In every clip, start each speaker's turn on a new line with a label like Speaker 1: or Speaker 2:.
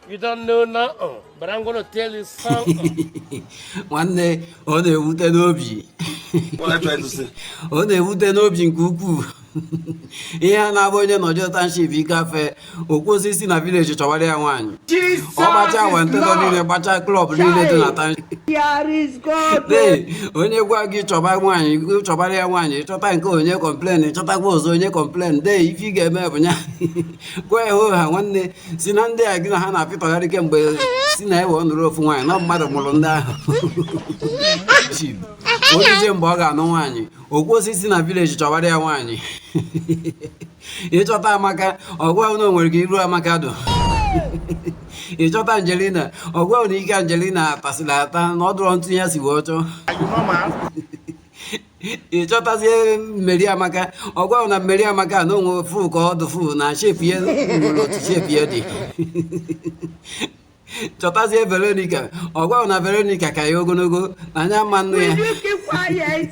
Speaker 1: You don't know now, oh, but I'm gonna tell you something. nwanne ọ na-ewute n'obi What are you trying to say? ọ na-ewute n'obi nke ukwuu ihe a na-abụ onye nọjọ township ikafe o kwuo sị si na village chọwara ya nwaanyị ọ gbacha wentego niile gbacha club niile dị na township Lee, onye gwa gị chọba nwaanyị gị chọbara ya nwaanyị chọta nke o nye complain chọtakwa ọzọ o nye complain then ife ị ga-eme bụ ya gwa ya ha nwanne si na ndị a gị na ha na-apịtọgharị kemgbe si na ewe ọnụrụ ofu nwaanyị na mmadụ mụrụ ndị ahụ ọ dịzie mgbe ọ ga-anụ nwaanyị o kwuo sị si na village chọwara ya nwaanyị ị chọta Amaka ọ gwa gị na o nwere ka iru Amaka dụ ị chọta Angelina ọ gwa gị na ike Angelina tasịrị ata na ọ dụrọ etu ya si wee chọọ ị chọtazie Mary Amaka ọ gwa gị na Mary Amaka na o nwe fụ ka ọ dụ fụ na shape ya nwere otu shape ya dị chọtazie Veronica ọ gwa gị na Veronica ka ya ogologo na nya ama anụ ya Will you keep quiet?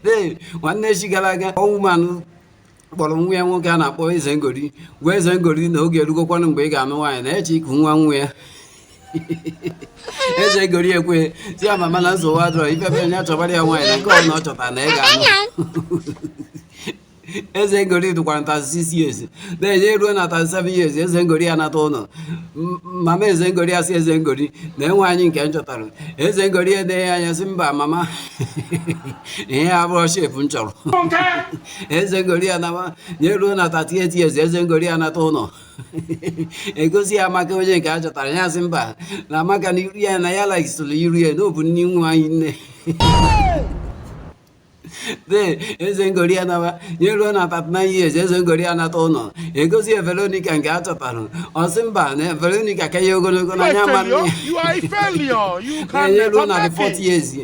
Speaker 1: Ee, nwanne echi gara aga o nwe woman kpọrọ nwa ya nwoke a na-akpọ eze ngori gwa eze ngori na oge erugokwanụ mgbe ị ga-anụ nwaanyị na ya chọ iku nwa nwa ya eze ngori ekwe sị ya mama na nsogbu adụrọ ifebe ya chọbara ya nwaanyị na nke ọbụla ọ chọtara na ya ga-anụ eze ngori dụkwara na thirty six years na-enye eruo na thirty seven years eze ngori ya nata ụlọ mama eze ngori asị eze ngori nee nwaanyị nke m chọtara eze ngori enee ya anya sị mba mama ihe a abụrọ shape m chọrọ eze ngori ya nawa nye ruo na 38 years eze ngori ya nata ụlọ egosi ya Amaka onye nke a chọtara ya sị mba na Amaka na iru ya na ya likeịsịrọ iru ya na ọ bụ nne nwa anyị nne then eze ngori ya nawa nye ruo na 39 years eze ngori ya nata ụlọ egosi ya Veronica nke a chọtara ọ sị mba na Veronica ka ya ogologo na nya ama anụ ya nye ruo na 40 years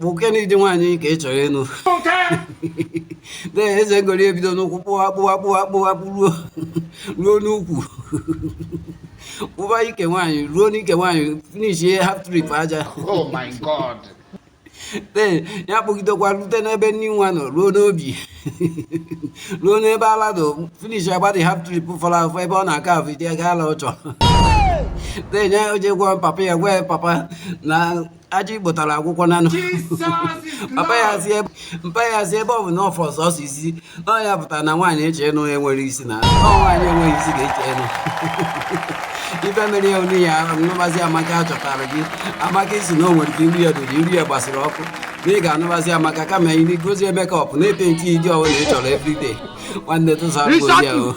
Speaker 1: nwoke na ụdị nwaanyị ka ị chọrọ ịnụ then eze ngori ebido n'ụkwụ kpụwa kpụwa kpụwa kpụwa kpụruo ruo n'ukwu kpụba ike nwaanyị ruo n'ike nwaanyị finish ihe half trip aja oh then ya kpụgidekwa rute n'ebe nne nwa nọ ruo n'obi ruo n'ebe ala nọ finish agbadị half trip fọrọ afọ ebe ọ na-aka afọ iti aga ala ọ chọrọ then ya o jee gwa papa ya gwa ya papa na aja i kutara agwụgo na papa ya si ebe mpa ya si ebe ọ bụ na ọ fọrọ sọsọ isi ọ ya pụtara na nwaanyị ị chọ ịnụ enwerọ isi na ọ nwaanyị enweghị isi ka ị chọ ịnụ ife mere ya onu ya anụbazi amaka a chọtara gị Amaka ị sị na o nwere ka iru ya dụ na iru ya gbasiri ọkụ na ị ga-anụbazi amaka kama iri gozie makeup na-epenti ụdị ọbụna ị chọrọ everyday nwanne tụsa ya o